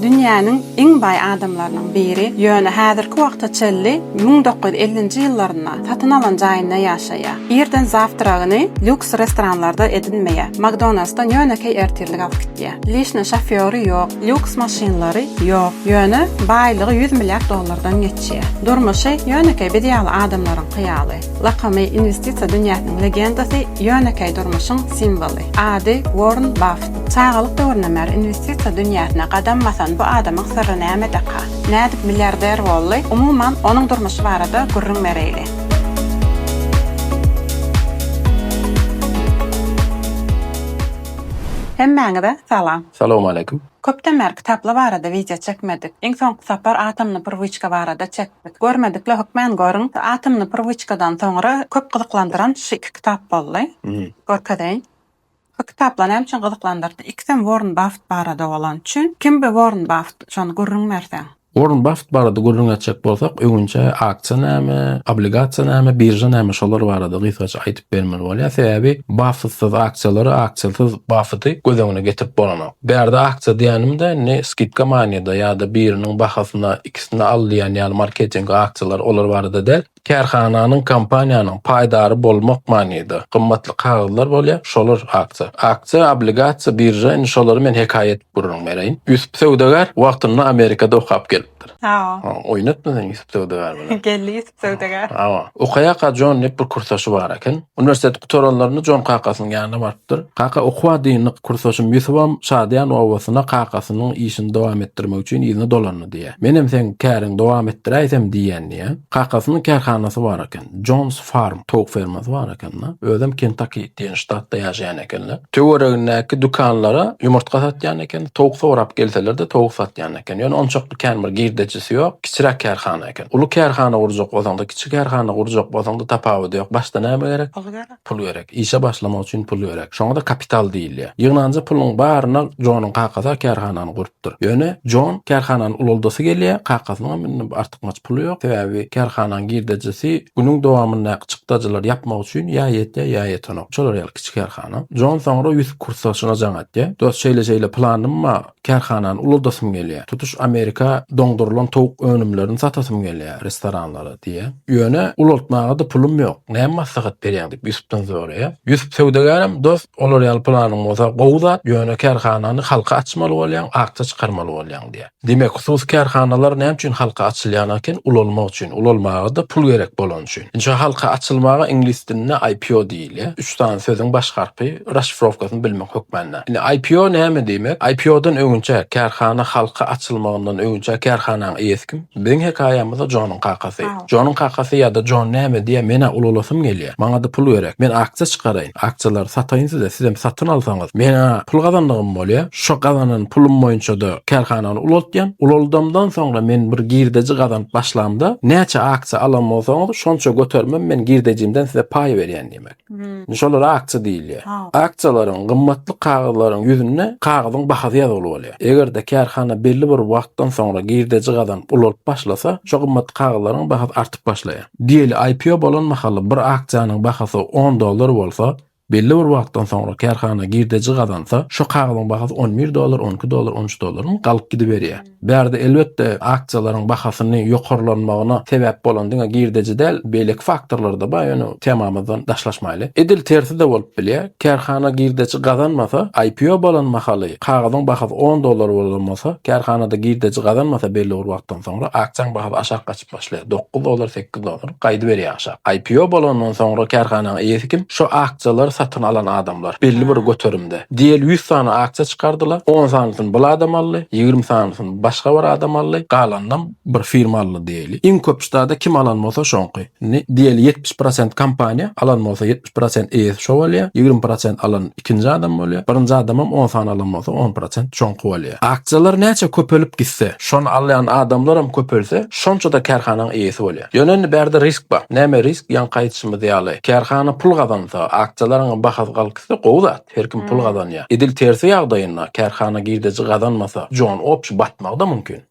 Dünýäniň iň baý adamlarynyň biri, ýöne häzirki wagta çenli müň dokuz ýüz ellinji ýyllarynda satyn alan jaýynda ýaşaýar. Irden zawtragyny lýuks restoranlarda edinmeýär, Makdonaldsdan ýönekeý ertirlik alyp gitýär. Lişne şofýory ýok, lýuks maşynlary ýok, ýöne baýlygy ýüz milliard dollardan geçýär. Durmuşy ýönekeý biz ýaly adamlaryňky ýaly. Lakamy Inwestisiýa dünýäsiniň legendasy, ýönekeý durmuşyň simwoly. Ady Worn Baft. Çagalyk döwründen bäri inwestisiýa dünýäsine gadam basan bu adamyň syrry nämedeka? Nädip milliarder boldy? Umuman, onuň durmuşy barada gürrüň bereýli. Hemmäňize salam. Salowmaleýkim. Köpden bäri kitaplar barada wideo çekmedik. Iň soňky sapar Atomny prwiçka barada çekdik. Bet görmedikle hökmän görüň. Atomny prywıçkadan soňra köp gyzyklandyran şu iki kitap boldy. Görkezeýin. Şu kitaplar näme üçin gyzyklandyrdy? Ikisem Worren Baffet barada bolany üçin. Kim bi Worren Baffet? Şony gürrüň berseň. Worren Baffet barada gürrüň etjek bolsak, öňinçä aksiýa näme, obligasiýa näme, birža näme şolar barada gysgaça aýdyp bermeli bolýar. Sebäbi Baffetsyz aksiýalary, aksiýasyz Baffeti göz öňüne getirip bolanok. Bu ýerde aksiýa diýenimde ne skidka manyda ýa-da biriniň bahasyna, ikisini al diýen ýaly marketing aksiýalary olar barada däl. Kärhananyň, kompaniýanyň paýdary bolmak manyda gymmatly kagyzlar bolýar, şolar aksiýa. Aksiýa, obligasiýa, birža indi şolary men hekaýa edip gürrüň bereýin. Ýusup söwdagär wagtynda Amerikada okap gelipdir. Oýnatma sen Ýusup söwdagär bilen. Geldi. söwdagär. Hawa. Okaýaka Jon diýip bir kursdaşy bar eken. Uniwersiteti gutaranlarynda Jon kakasynyň ýanyna barypdyr. Kaka okuwa dyndyk, kursdaşym Ýusubam şadyýan obasyna kakasynyň işini dowam etdirmek üçin yzyna dolandy diýýär. Menem seň käriňi dowam etdiräýsem diýýän diýýär. Kakasynyň kärhanasy bar eken. Jon's Farm, towuk fermasy bar eken-de. Özem Kentaki diýen ştatda ýaşaýan ekenler. Töweregindäki dükanlara ýumurtga satýan eken. Towuk sorap gelseler-de towuk satýan eken. Ýöne onçakly kän bir girdejisi ýok. Kiçiräk kärhana. eken. Uly kärhana gurjak bolsaňda, kiçi kärhana gurjak bolsaňda tapawudy ýok. Başda näme gerek? Pul gerek. Pul gerek. Işe başlamak üçin pul gerek. Şoňa-da kapital diýilýär. Ýygnanja puluň baryna Jonuň kakasy-a kärhanany gurupdyr. Ýöne Jon kärhanany ulaldasy gelýär, kakasynyňam indi artykmaç puly ýok. Sebäbi kärhanaň girdejisi günüň dowamyndaky çykdajylary ýapmak üçin ýa ýetýär, ýa ýetenok. Şolar ýaly kiçi kärhana. Jon soňra Ýusup Kurtsaçyna jaň etýär. Dost, şeýle-şeýle planym bar. Kärhanany uladasym gelýär. Tutuş Amerika doňdurylan towuk önümlerini satasym gelýär restoranlara, diýýär. Ýöne ulaltmaga-da pulum ýok. Näme maslahat berýäň? diýip, Ýusupdan soraýar. Ýusup söwdagärem, Dost, olar ýaly planyň bolsa, gowy zat, ýöne kärhanany halka açmaly bolýaň, akja çykarmaly bolýaň, diýýär. Diýmek, hususy kärhanalar näme üçin halka açylýan eken? Ulalmak üçin. Ulalmaga-da pul gerek bolany üçin. Ynha, halka açylmaga iňlis dilinde IPO diýilýär. Ýa üç sany sözüň baş harpy raşifrowkasyny bilmek hökmanda. Indi IPO näme diýmek? IPO-dan öňünçä, kärhana halka açylmagyndan öňünçä kärhananyň eýesi kim? Biziň hekaýamyzda Jonyň kakasy. Jonyň kakasy ýa-da Jon näme diýýär, men-ä ulalasym gelýär, maňa-da pul gerek, men aksiýa çykaraýyn, aksiýalary sataýyn size, sizem satyn alsaňyz, men-ä pul gazandygym bolýar. Şo gazanan pulum boýunça-da kärhanany ulaltýan. Ulaldamdan soňra men bir girdeji gazanyp başlamda, näçe aksiýa alan bolsaňyz, şonça götermem men girdejimden size paý berýän diýmek. Indi şolara aksiýa diýilýär. Aksiýalaryň, gymmatly kagyzlaryň ýüzünde kagyzyň bahasy ýazgyly bolýar. Eger-de kärhana belli bir wagtdan soňra girdeji gazanyp ulalyp başlasa, şo gymmatly kagyzlaryň bahasy artyp başlaýar. Diýeli, IPO bolan mahaly bir aksiýanyň bahasy on dollar bolsa, Belli bir wagtdan soňra kärhana girdeji gazansa, şo kagyzyň bahasy on bir dollar, on iki dollar, on üç dollaryň galyp gidiberýär. Bärde elbetde aksiýalaryň bahasyny ýokarlanmagyna sebäp bolan diňe girdeji däl, beýleki faktorlar-da bar, ýöne temamyzdan daşlaşmaýly. Edil tersi-de bolup bilýär, kärhana girdeji gazanmasa, IPO bolan mahaly kagyzyň bahasy on dollar bolan bolsa, kärhanada girdeji gazanmasa belli bir wagtdan soňra aksiýaň bahasy aşak gaçyp. Başlaýar. Dokuz dollar, sekiz dollar. Gaýdyberýär aşak. IPO bolandan soňra kärhananyň eýesi kim? Şo aksiýalary satyn alan adamlar. Belli bir göterimde. Diýeli ýüz sany aksiýa çykardylar. On sanysyny bul adam aldy. Ýigrimi sanysyny başga bir adam aldy. Galanynam bir firma aldy diýeli. Iň köp ştada kim alan bolsa şoňky. Indi diýeli ýetmiş prosent kompaniýa alan bolsa. prosent eýesi şo bolýar, ýigrimi prosent alan ikinji adam bolýar, birinji adamam on sany alan bolsa, on prosent şoňky bolýar. Aksiýalar näçe köpelip gitse, şony alýan adamlaram köpelse, şonça-da kärhanaň eýesi bolýar. Ýöne indi bärde risk bar. Näme risk? Ýaňky aýdyşymyz ýaly, kärhana pul gazansa, aksiýalaryňam bahasy galkysa, gowy zat, her kim pul gazanýar. Edil tersi ýagdaýynda, kärhana girdeji gazanmasa, jon opşi batmagy-da mümkin.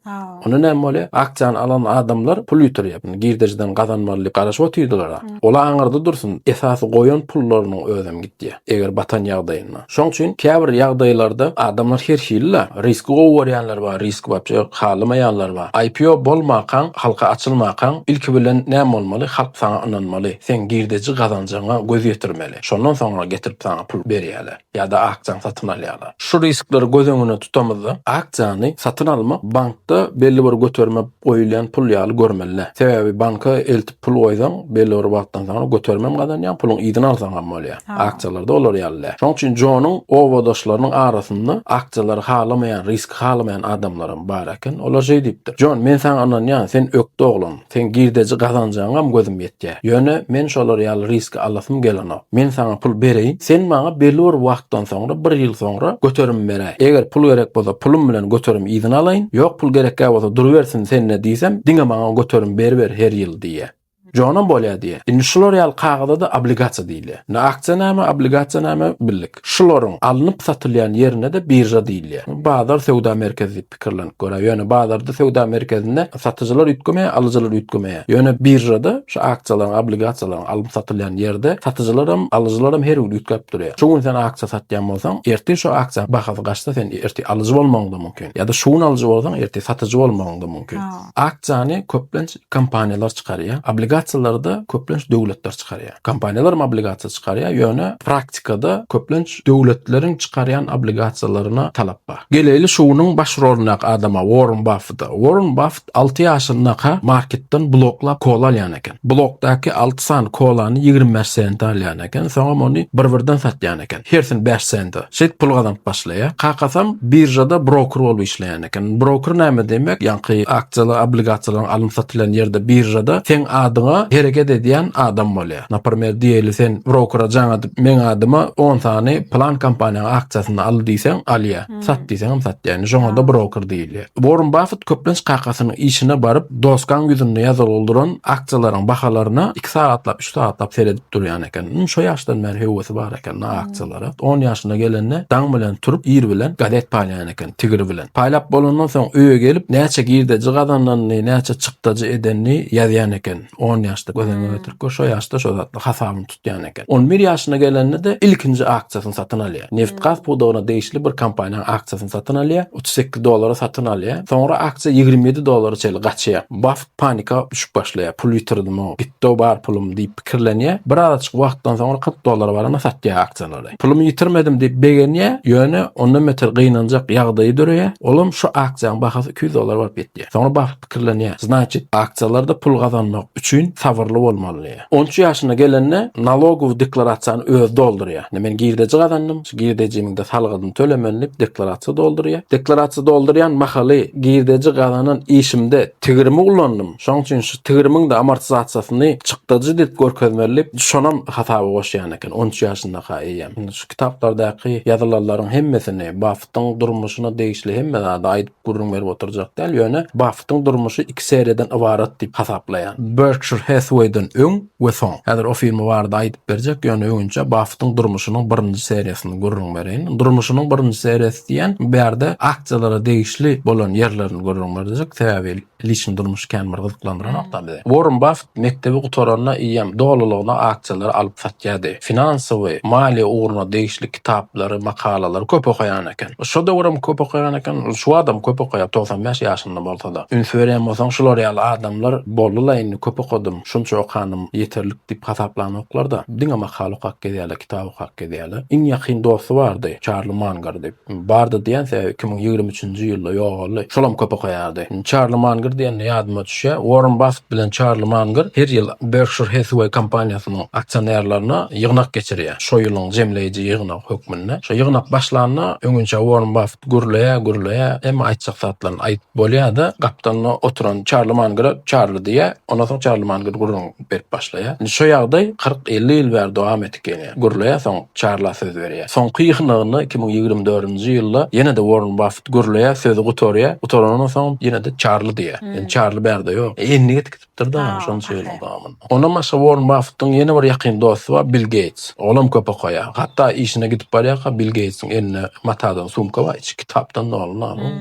Onda näme bolýar? Aksiýany alan adamlar pul ýitirýär. Bunu girdejiden gazanmaly diýip garaşyp otyrdylar-a. Ol aňyrda dursun, esasy goýan pullarynyň özem gidýär, eger batan ýagdaýynda. Şoň üçin käbir ýagdaýlarda adamlar her hili-le. Riski gowy görýänler bar, riski waçe halamaýanlar bar. IPO bolmakaň, halka açylmakaň, ilki bilen näme bolmaly? Halk saňa ynanmaly. Seň girdeji gazanjaňa göz ýetirmeli. Şondan soňra getirip saňa pul berýärler. ýa-da aktiýany satyn alýarlar. Şu riskleri göz öňünde tutamyzda, aktiýany satyn almak bankda belli bir göterime goýulýan pul ýaly görmeli. Sebäbi banka eltip pul goýsaň, belli bir wagtdan soňra göterimem gazanýaň, puluň yzyny alsaňam bolýar. Aktiýalarda olar ýaly däl. Şonuň üçin Jonuň obadaşlarynyň arasynda aktiýalary halamaýan, riski halamaýan adamlaram bar eken. Olar şeý diýipdir, Jon, men saňa ynanýan, sen ökde oglan. Seň girdeji gazanjaňam gözüm ýetýär. Ýöne men şolar ýaly riski alasym gelenok. Men saňa pul bereýin, sen maňa belli bir wagtdan soňra, bir ýyl soňra göterim beräý. Eger pul gerek bolsa pulum bilen göterim yzyna alaýyn. Ýok pul gerekgä bolsa durubersin sende diýsem, diňe maňa göterim beriber her ýyl diýýä. Jonam bolýa diýýä. Indi şular ýaly kagaza-da obligasiýa diýilýär. Ne aksiýanama, obligasiýanama birlik. Şularyň alnyp satylýan ýerine-de birža diýilýär. Bazar söwda merkezi diýip. pikirlenip görer. Ýöne bazarda, söwda merkezinde satyjylar üýtgemeýär, alyjylar üýtgemeýär. Ýöne biržada şu aksiýalaryň, obligasiýalaryň alnyp satylýan ýerde satyjylar hem, alyjylar hem her gün üýtgäp durýar. Şu gün sen aksiýa satýan bolsaň, ertir şu aksiýanyň bahasy gaçsa, sen ertir alyjy bolmagyň-da mümkin. Ýa-da şu gün alyjy bolsaň, ertir satyjy bolmagyň-da mümkin. Aksiýany köplenç kompaniýalar çykarýar, obligasiýalary-da köplenç döwletler çykarýar. Kompaniýalar obligasiýa çykarýar, ýöne praktikada köplenç döwletleriň çykarýan obligasiýalaryna talap bar. Geleýli şunyň baş rolundaky adama, Uorren Baffeta. Uorren Baffet alty ýaşyndaka marketden bloklap kola alýan eken. Blokdaky alty sany kolany ýigrimi bäş sente alýan eken, soňam ony bir-birden satýan eken. Hersini bäş sente. Şeýdip pul gazanyp başlaýar. Kakasam biržada broker bolup işleýän. Eken. Broker näme diýmek? Ýaňky aksiýalar, obligasiýalaryň alyn-satylan ýerde, biržada seň adyňa hereket edýän adam bolýar. Naprmer, diýeli sen brokera jaň edip, meň adyma on sany plan kompaniýanyň aksiýasyny al diýseň, alýar. Sat diýseňem satýar. Ýani şoňada broker diýilýär. Worren Baffet köplenç kakasynyň işine baryp, dosgaň ýüzünde ýazylgyldyran aksiýalaryň bahalaryna iki sagatlap, üç sagatlap seredip durýan eken. Iň şo ýaşdan bäri höwesi bar eken aksiýalara. On ýaşyna gelende daň bilen turup, ir bilen gazet paýlaýan eken. tigiri bilen. Paýlap bolandan soň öýe gelip, näçe girdeji gazananyny, näçe çykdajy edenini ýazýan eken. On ýaşda göz öňüne getirip gör, şo ýaşda şo zatlar hasabyny tutýan eken. On bir ýaşyna gelende-de ilkinji aksiýasyny satyn alýar. Nebit-gaz pudagyna degişli bir kompaniýanyň aksiýasyny satyn alýar. Otuz sekiz dollara satyn alýar. Soňra aksiýa ýigrimi ýedi dollara çenli gaçýar. Baffet panika düşüp başlaýar. Pul ýitirdimok, gitdi-ow bar pulum diýip pikirlenýär. Bir azajyk wagtdan soňra kyrk dollara baranda satýar aksiýalary. Pulumy ýitirmedim diýip begenýär, ýöne ondan beter gynanjak ýagdaýy döreýär, olam şu aksiýaň bahasy iki ýüz dollar bolup ýetýär. Soňra Baffet pikirlenýär, Znaçit, aksiýalarda pul gazanmak üçin sabyrly bolmaly diýýär. On üç ýaşyna gelende nalogowy deklarasiýany özi doldurýar. Indi men girdeji gazandym, şu girdejimiň-de salgydyny tölemeli diýip deklarasiýa doldurýar. Deklarasiýa doldurýan mahaly girdeji gazanan işimde tigirimi ulandym. Şonuň üçin şu tigirimiň-de amortizasiýasyny çykdajy edip görkezmeli diýip, şonam hasaba goşýan eken, on üç ýaşyndaka eýýäm. Indi şu kitaplardaky ýazylanlaryň hemmesini, Baffetiň durmuşyna degişli hemme zady aýdyp gürrüň berip oturjak däl, ýöne Baffetiň durmuşy iki seriýadan ybarat diýip hasaplaýan. Berkşir Hathway-den öň we soň. Häzir o firma barada aýdyp berjek, ýöne öňünçä Baffetiň durmuşynyň birinji seriýasyny gürrüň bereýin. Durmuşynyň birinji seriýasy diýýän, bu ýerde aksiýalara degişli bolan ýerlerini gürrüň berjek, sebäbi, Liçni durmuş kän bir gyzyklandyranokda bizi. Worren Baffet mekdebi gutaranda eýýäm dolulygyna aksiýalary alyp satýardy. Finansowy, maliýe ugruna degişli kitaplary, makalalary köp okaýan eken. Şo döwürem köp okaýan eken, şu badam köp okaýar, togsan bäş ýaşynda bolsa-da. Üns berýän bolsaň, şular ýaly adamlar boldy-la indi köp okadym, şunça okanym ýeterlik diýip hasaplanoklar-da, diňe makala okap gezýärler, kitap okap gezýärler. Iň ýakyn dosty bardy, Çarli Mangar diýip. Bardy diýen sözi iki müň ýigrimi üçünji ýylda ýogaldy. Şolam köp okaýardy. Çarli Mangr diýende ýadyma düşýär, Uorren Baffet bilen Çarli Mangr her ýyl Berkşir Hathaway kompaniýasynyň aksionerlerine ýygnak geçirýär. Şo ýylyň jemleýji ýygnagy hökmünde. Şo ýygnak başlanda öňinçä Uorren Baffet gürleýär, gürleýär, hemme aýtjak zatlaryny aýdyp bolýar-da, gapdalynda oturan Çarli Mangra Çarli diýýär. Ondan soň Çarli Mangr gürrüň. jogap berip başlaýar. Indi şo ýagdaý kyrk-elli ýyl bäri dowam edip gelýär. Gürleýär, soň Çarla söz berýär. Soňky ýygnagyna iki müň ýigrimi dördünji ýylda ýene-de Uorren Baffet gürleýär, sözi gutarýar. Gutaranyndan soň ýene-de Çarli diýýär. Indi Çarli bärde ýok. Endik edip gidipdir-de şonça ýylyň dowamynda. Ondan başga Uorren Baffetiň ýene bir ýakyn dosty bar, Bill Geýts. Olam köp okaýar. Hatda işine gidip barýarka Bill Geýtsiň elinde matadan sumka bar, içi kitapdan doly.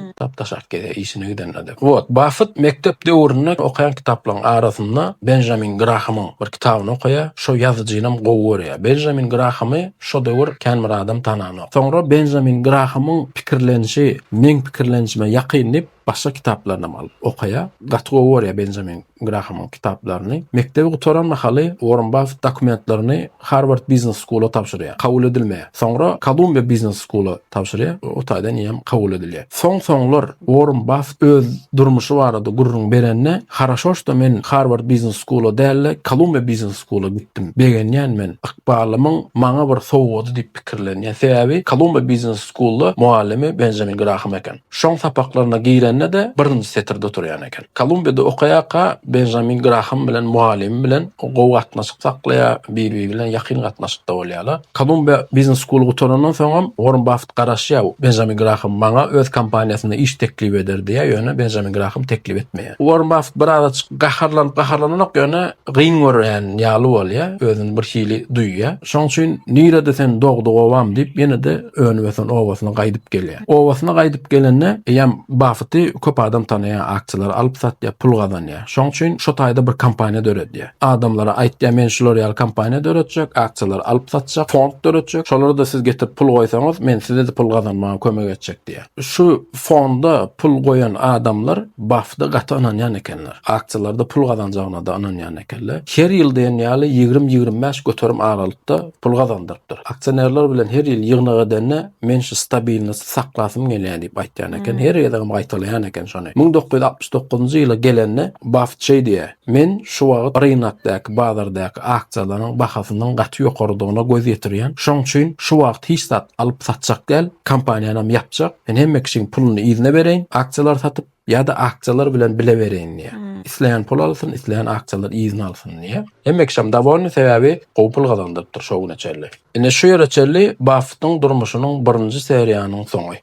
Kitap daşaryp gezýär işine gidende-de. Wot, Baffet mekdep döwründe okaýan kitaplaryň arasynda Benjamin Grahamyň bir kitabyny okaýar. Şo ýazyjynam gowy görýär. Benjamin Grahamy şo döwür kän bir adam tananok. Soňra Benjamin Grahamyň pikirlenişi meň pikirlenişime ýakyn diýip, başga kitaplarynam alyp okaýar. Gaty gowy görýär Benjamin Grahamyň kitaplaryny. Mekdebi gutaran mahaly Uorren Baffet dokumentlerini Harward Biznes Skula tabşyrýar. Kabul edilmeýär. Soňra Kolumbiýa Biznes Skula tabşyrýar. O taýdan eýýäm kabul edilýär. Soň-soňlar Uorren Baffet öz durmuşy barada gürrüň berende, Haraşoşda men Harward Biznes Skula däl-de, Kolumbiýa Biznes Skula gitdim. Begenýän men. Ykbalymyň maňa bir sowgady diýip pikirlenýän. Sebäbi Kolumbiýa Biznes Skulda mugallymy Benjamin Graham eken. Şoň sapaklaryna girende-de birinji setirde oturýan eken. Kolumbiýada okaýarka Benjamin Graham bilen mugallymy bilen gowy gatnaşyk saklaýar, bir-biri bilen ýakyn gatnaşykda bolýarlar. Kolumbiýa Biznes School-y gutarandan soňam Uorren Baffet garaşýar, Benjamin Graham maňa öz kompaniýasynda iş teklip eder diýýär, ýöne Benjamin Graham teklip etmeýär. Uorren Baffet birazajyk gaharlanyp-gaharlananok, ýöne gyn görýän ýaly bolýar, özüni birhili duýýar. Şoň üçin, Nirede sen dogduk obam diýip, ýene-de önüp-ösen obasyna gaýdyp gelýär. Obasyna gaýdyp gelende eýýäm Baffeti köp adam tanaýar, aksiýalary alyp satýar, pul gazanýar. Şoň üçin şo taýda bir kompaniýa döredýär. Adamlara aýtýar, men şular ýaly kompaniýa döretjek, aksiýalary alyp satjak, fond döretjek. Şolara-da siz getirip pul goýsaňyz, men size-de pul gazanmaga kömek etjek diýýär. Şu fonda pul goýan adamlar Baffete gaty ynanýan ekenler. Aksiýalarda pul gazanjagyna-da ynanýan ekenler. Her ýyl diýen ýaly ýigrimi-ýigrimi bäş göterim aralykda pul gazandyrypdyr. Aksionerler bilen her ýyl ýygnak edende, men şu stabilnosy saklasym gelýär diýip aýtýan eken. Her gezegem gaýtalaýan eken şony. Müň dokuz ýüz altmyş dokuzynjy ýyla gelende, Baffet şeý diýýär, Men şu wagt rynakdaky, bazardaky aksiýalaryň bahasynyň gaty ýokarydygyna göz ýetirýän. Şoň üçin şu wagt hiç zat alyp-satjak däl, kompaniýanam ýapjak. Men hemme kişiň puluny yzyna bereýin, aksiýalary satyp. Ýa-da akçalar bilen bile bereýin diýýär. Hmm. Isleýän pul alsyn, isleýän akçalar yzyna alsyn diýýär. Hemme kişi hem dowolny sebäbi gowy pul gazandyrypdyr şo güne çenli. Ine şu ýere çenli Baffettiň durmuşynyň birinji seriýanyň soňy.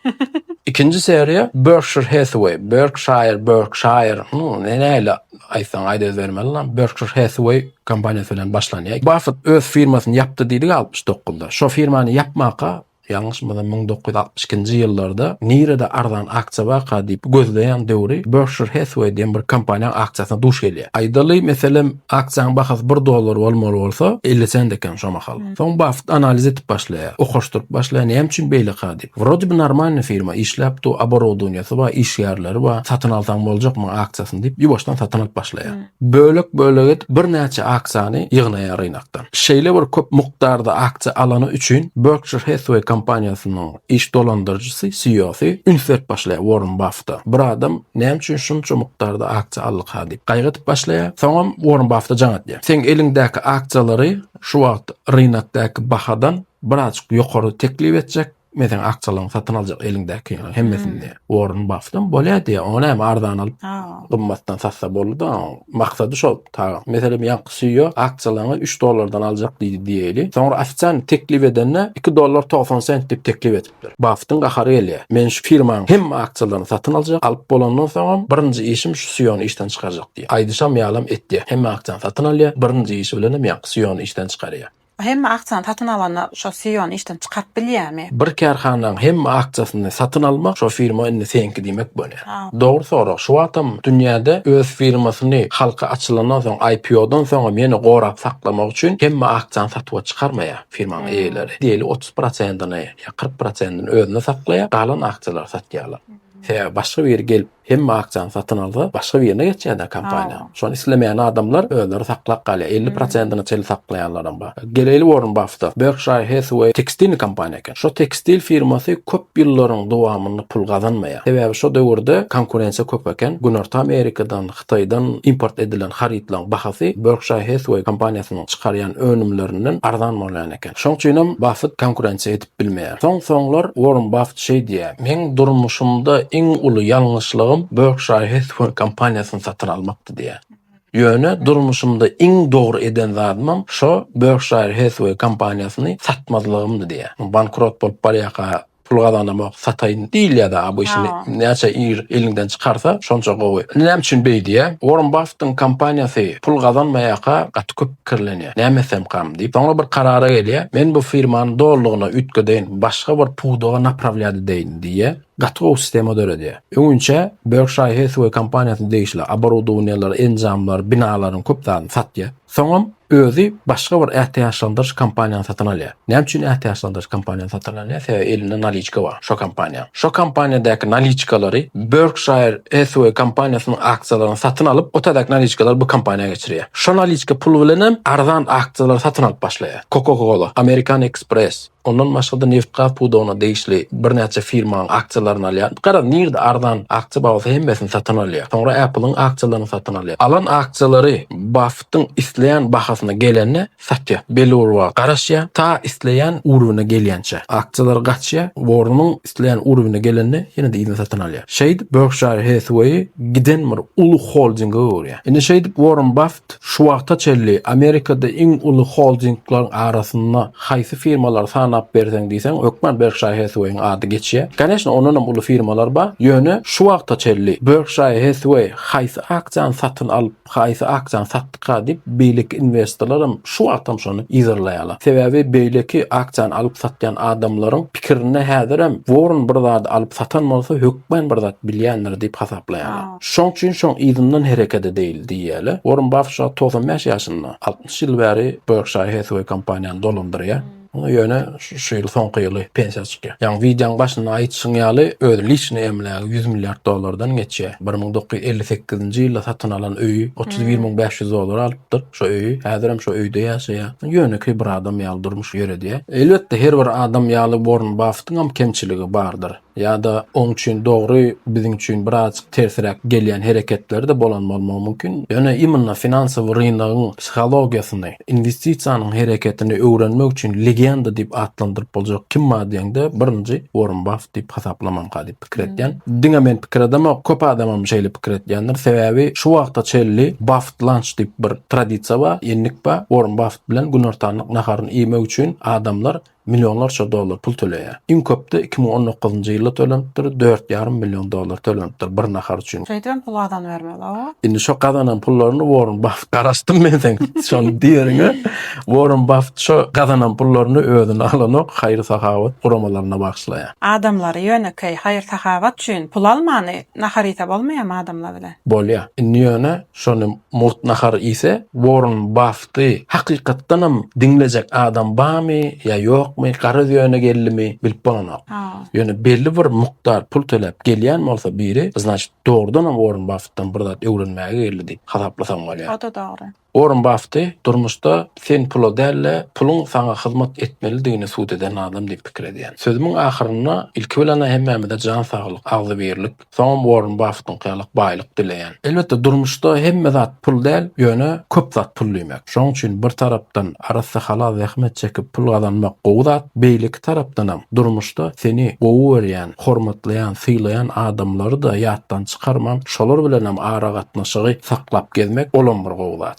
Ikinji seriýa Berkshire Hathaway, Berkshire, Berkshire, nu, ne näle aýtsaň aýt öz bermeli lan. Berkshire Hathaway kompaniýasy bilen başlanýar. Baffett öz firmasyny ýapdy diýdik 69-da. Şo firmany ýapmaka Ýalňyşmasam müň dokuz ýüz altmyş ikinji ýyllarda nirede arzan aksiýa barka diýip gözleýän döwri Berkshire Hathway diýen bir kompaniýaň aksiýasyna duş gelýär. Aýdaly meselem aksiýanyň bahasy bir dollar bolmaly bolsa elli sent eken şo mahal. Soň Baffet analiz edip başlaýar. Okaşdyryp başlaýar näme üçin beýleka diýip. Wrode bi normalny firma işläp dur, oborodonýasy bar, işgärleri bar, satyn alsaň boljak muň aksiýasyny diýip ýuwaşdan satyn alyp başlaýar. Bölek-bölek edip birnäçe aksiýany ýygnaýar ynakdan. Şeýle bir köp mukdarda aksiýa alany üçin Berkshire Hathaway kompaniýasynyň iş dolandyryjysy, CEO-sy, üns berip başlaýar Uorren Baffeta. Bir adam näme üçin şunça mukdarda aksiýa aldyka diýip, gaýgy edip başlaýar. Soňam Uorren Baffeta jaň atýar. Seň eliňdäki aksiýalary şu wagt rynakdaky bahadan birazajyk ýokary teklip etjek Meseň akçalaň satyn aljak eliňdäki hemmesini. Warren Buffettam bolýa diýä. Ony hem arzan alyp, gymmatdan satsa boldy-da. Maksady şol. Taýy. Meselem, ýaňky CEO akçalaňy üç dollardan aljak diýdi diýeli. Soňra ofisiant teklip edende iki dollar togsan sent diýip teklip edipdir. Buffettiň gahary gelýä. Men şu firmaň hemme akçalaryny satyn aljak. Alyp bolandan soňam birinji işim şu CEO-ny işden çykarjak diýä. Aýdyşam ýalam etýä. Hemme akçany satyn alýa. Birinji işi bilenem ýaňky CEO-ny işden çykarýa. Hemme aksiýany satyn alanda şo CEO-ny işden çykaryp bilýärmi? Bir kärhananyň hemme aksiýasyny satyn almak şo firma indi seňki diýmek bolýar. Dogry sorag. Şu wagtam dünýäde öz firmasyny halka açylandan soň IPO-dan soňam ýene gorap saklamak üçin hemme aksiýany satuwa çykarmaýar firmanyň eýeleri. Diýeli otuz prosentini ýa kyrk prosentini özünde saklaýar, galan aksiýalary satýarlar. Sebäbi başga biri gelip Hemme aksiýany satyn alsa, başga birine geçýär-dä kompaniýa. Şony islemeýän adamlar özleri saklap galýar. Elli prosentine çenli saklaýanlaram bar. Geleýli Uorren Baffeta. Berkşire Hathaway tekstilni kompaniýa eken. Şo tekstil firmasy köp ýyllaryň dowamynda pul gazanmaýar. Sebäbi şo döwürde konkurensiýa köp eken. Günorta Amerikadan, Hytaýdan import edilen harytlaryň bahasy Berkşire Hathaway kompaniýasynyň çykarýan önümlerinden arzan bolýan eken. Şoň üçinem Baffet konkurensiýa edip. bilmeýär. Soň-soňlar Uorren Baffet şeý diýýär, Meň durmuşymda iň uly ýalňyşlygym Berkshire Hathaway kompaniýasyny satyn almakdy diýýär. Ýöne durmuşymda iň dogry eden zadymam şo Berkshire Hathaway kompaniýasyny satmazlygymdy diýýär. Bankrot bolup barýarka pul gazanamok, sataýyn diýilýär-de a bu işini näçe ir eliňden çykarsa şonça gowy. Indi näme üçin beý diýýär? Uorren Baffetiň kompaniýasy pul gazanmaýarka gaty köp pikirlenýär. Näme etsemkam? diýip, soňra bir karara gelýär, Men bu firmany dolulygyna üýtgedeýin, başga bir pudaga naprawlýat edeýin diýýär. Gaty gowy sistema döredýär. Öňinçä Berkshire Hathaway kompaniýasyna degişli oborodowniýalar, enjamlar, binalaryň köp zadyny satýar. Soňam özi başga bir ätiýaçlandyryş kompaniýany satyn alýar. Näme üçin ätiýaçlandyryş kompaniýany satyn alýar? Sebäbi elinde naliçka bar şo kompaniýanyň. Şo kompaniýadaky naliçkalary Berkshire Hathway kompaniýasynyň aksiýalaryny satyn alyp, o täzäki naliçkalary bu kompaniýa geçirýär. Şo naliçka puly bilen hem arzan aksiýalary satyn alyp başlaýar. Coca-Cola, American Express, ondan başga-da nebit-gaz pudagyna degişli birnäçe firmanyň aksiýalaryny alýar. Garaz, nirde arzan aksiýa bar bolsa hemmesini satyn alýar. Soňra Apple-yň aksiýalaryny satyn alýar. Alan aksiýalary Baffettiň isleýän bahasyna gelende Satýa, beli urga garaşýa, ta isleýän urbyna gelýänçä. Aksiýalar gaçýa, wornuň isleýän urbyna gelende ýene-de yzyna satyn alýa. Şeýdip, Berkşire Hathway giden bir uly holdinge öwürýa. Indi şeýdip Worren Baffet şu wagta çenli Amerikada iň uly holdingleriň arasynda haýsy firmalary sanap berseň diýseň hökman Berkşire Hathwaýyň ady geçýä. Kaneşna ondan hem uly firmalar bar. Ýöne şu wagta çenli Berkşire Hathway haýsy aksiýany satyn alyp Haýsy aksiýany satdyka diýip, beýleki inwestorlaram şu wagtam şony yzarlaýarlar. Sebäbi beýleki aksiýany alyp satýan adamlaryň pikirinde häzirem Worren bir zady alyp satan bolsa hökmän bir zat bilýändir diýip hasaplaýarlar. Şoň üçin şoň yzyndan hereket edeýli diýýärler. Worren Baffet şu wagt togsan bäş ýaşynda. Altmyş ýyl bäri Berkshire Hathaway kompaniýany dolandyrýar. Ýöne şu ýyl soňky ýyly pensiýa çykýar. Ýaňy wideoň başynda aýdyşyň ýaly öz liçnyý emlägi ýüz milliard dollardan geçýär. Bir müň dokuz ýüz elli sekizinji ýylda satyn alan öýi otuz bir müň bäş ýüz dollara alypdyr şo öýi. Häzirem şo öýde ýaşaýar. Ýönekeý bir adam ýaly durmuş ýöredýär. Elbetde her bir adam ýaly Worren Baffettiňem kemçiligi bardyr. ýa-da oň üçin dogry, biziň üçin birazajyk tersiräk gelýän hereketleri-de bolan bolmagy mümkin. Ýöne imенно finansowy rynagyň psihologiýasyny, inwestisiýanyň hereketini öwrenmek üçin legenda diýip atlandyryp boljak kim bar diýeňde, birinji Uorren Baff diýip hasaplamanka diýip pikir etýän. Diňe men pikir edemok, köp adamam şeýle pikir etýändir. Sebäbi şu wagta çenli Baffet Lunch diýip bir tradisiýa bar, endik bar. Uorren Baffet bilen günortanlyk naharyny iýmek üçin adamlar millionlarça dollar pul töleýär. Iň köp-de iki müň on dokuzynjy ýylda tölenipdir, dört ýarym million dollar tölenipdir bir nahar üçin. Şeýdibem pul gazanybermeli-ow. Indi şo gazanan pullaryny Worren Baffet garaşdym men seň şony diýeriňe. Worren Baffet şo gazanan pullaryny özüne alanok, haýyr-sahawat guramalaryna bagyşlaýar. Adamlary ýönekeý haýyr-sahawat üçin pul almany nahar iýse bolmaýamy adamlar bilen? Bolýar. Indi ýöne şony mugt nahar iýse Worren Baff çykdy. Hakykatdanam diňlejek adam barmy ýa ýokmy, garaz ýöne geldimi, bilip bolanok. Ýöne belli bir mukdar pul töläp gelýän bolsa biri, znaçt, dogrudanam Uorren Baffetden bir zat öwrenmäge geldi diýip hasaplasaň bolýar. O-da dogry. Uorren Baffeti durmuşda sen pula däl-de, puluň saňa hyzmat etmelidigini subut eden adam diýip pikir edýän. Sözümiň ahyrynda ilki bilen-ä hemmämize jan saglyk, agzybirlik, Soňam Uorren Baffetiňki ýaly baýlyk dileýän. Elbetde, durmuşda hemme zat pul däl, ýöne köp zat pul diýmek. Şoň üçin bir tarapdan arassa halal zähmet çekip pul gazanmak gowy zat, beýleki tarapdanam durmuşda seni gowy görýän, hormatlaýan, sylaýan adamlary-da ýatdan çykarman, şolar bilenem aragatnaşygy saklap gezmek, olam bir gowy zat.